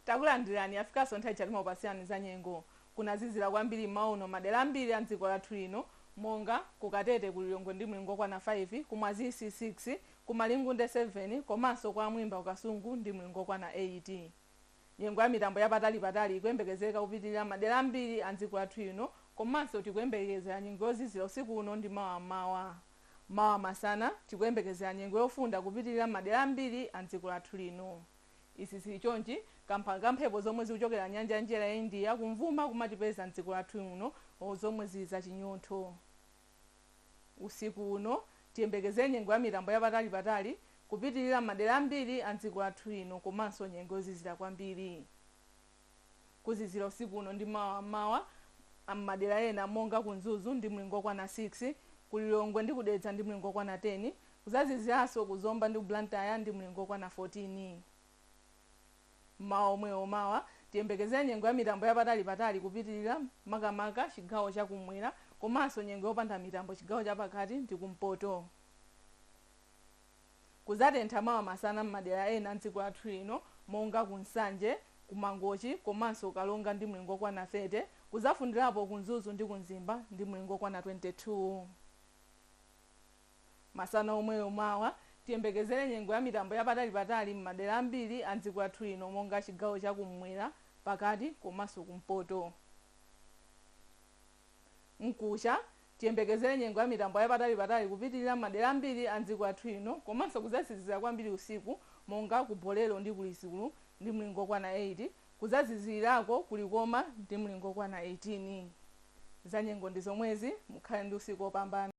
takulandirani yafikanso nthawi yoti timapasirani za nyengo kunazizira kwambiri mmawa uno madera ambiri a mdziko lathu lino monga ku katete ku lilongwe ndi mlingo okwana 5 ku mwazisi 6 ku malingunde 7 komanso kwa mwimba ku kasungu ndi mlingo okwana 8 Nyengo ya mitambo ya patali patali ikuyembekezeka kupitilira m'madera ambiri a m'dziko lathu lino komanso tikuyembekezera nyengo yozizira usiku uno ndi mawa m'mawa. Mawa masana, tikuyembekezera nyengo yofunda kupitilira m'madera ambiri a m'dziko lathu lino. Izi zili chonchi kamba ka mphepo zomwe zikuchokera nyanja ya mchere ya India kumvuma kumatipeza m'dziko lathu lino zomwe zili zachinyontho. Usikuuno, tiyembekezere nyengo ya mitambo ya patali-patali kupitilira m'madera ambiri a m'dziko lathu lino komanso nyengo yozizira kwambiri. Kuzizira usikuuno ndi mawa m'mawa m'madera ena monga ku Mzuzu ndi mlingo wokwana 6, ku Lilongwe ndi ku Dedza ndi mlingo wokwana 10, kuzaziziranso ku Zomba ndi ku Blantyre ndi mlingo wokwana 14. mmawa omwewo. Mawa tiyembekezere nyengo ya mitambo ya patali patali kupitilira makamaka chigawo cha kum'mwera komanso nyengo yopanda mitambo chigawo cha pakati ndi ku mpoto. Kuzatentha mawa masana mmadera ena mdziko lathu lino monga ku Nsanje, ku Mangochi komanso Karonga ndi mlingo okwana 30, kuzafundirapo ku Mzuzu ndi ku Mzimba ndi mlingo okwana 22. Masana omwewo mawa, tiyembekezere nyengo ya mitambo ya patalipatali m'madera ambiri a m'dziko lathu lino monga chigawo cha kummwera, pakati komanso kumpoto. Mkucha, tiyembekezere nyengo ya mitambo ya patalipatali kupitilira m'madera ambiri a m'dziko lathu lino komanso kudzazizira kwambiri usiku monga ku Bolero ndi ku Lizulu ndi mlingo okwana 8, kudzazizilirako ku Likoma ndi mlingo okwana 18. Zanyengo ndi zomwezi, mukhale ndi usiku opambana.